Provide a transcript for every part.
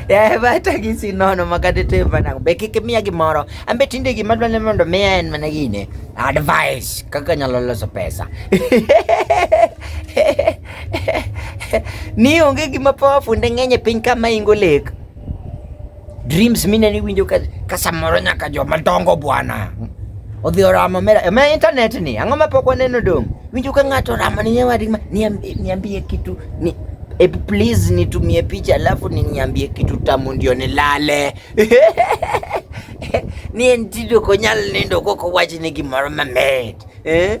Yaye bata gi sinono makate te bana be kik miya gimoro ambe tinde gima dwane mondo miya en mana gine advice kaka nyalo loso pesa ni onge gima powerful ne ng'eny e piny ka maingo lek Dreams mine ni winjo ka, ka samoro nyaka joma dongo bwana odhi oramo mera e ma internet ni ang'o ma pok waneno dong winjo ka ng'ato oramo ni nyawadi ma niambie kitu ni e please nitumie picha alafu niambie kitu tamu ndio nilale ni entido konyal nindo koko wach ni gimoro mamit eh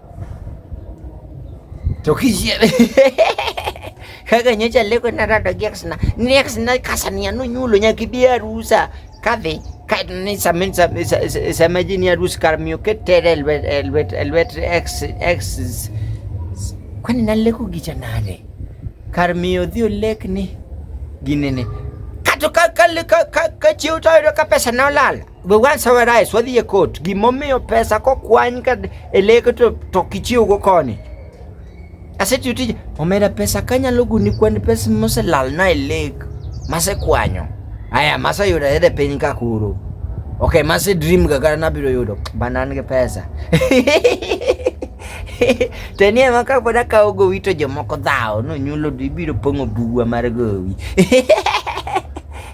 To kiyie. Kaka nyocha leko na rado gi exna. Ni exna kasani anu nyulo nyaki bi arusa. Kadhi ni samin sama jini arus karmiyo ketere elwet elwet elwet ex ex kwani naleko gicha nade karmiyo dhi olek ni ginene kato ka ka ka ka chiw to ka pesa na olala we want summarize wadhi e court gimomiyo pesa kokwany ka e leke to, to kichiwgo koni asetiyo tije omera pesa kanyalo guni kwan pesa moselalna e lek masekwanyo aya maseyudo yede piny ka kuro ok mase dream ga kata nabiro yudo banan gi pesa to ni ema ka pod akawo gowi to jomoko dhawo nonyulo ibiro pong'o buwa mar gowi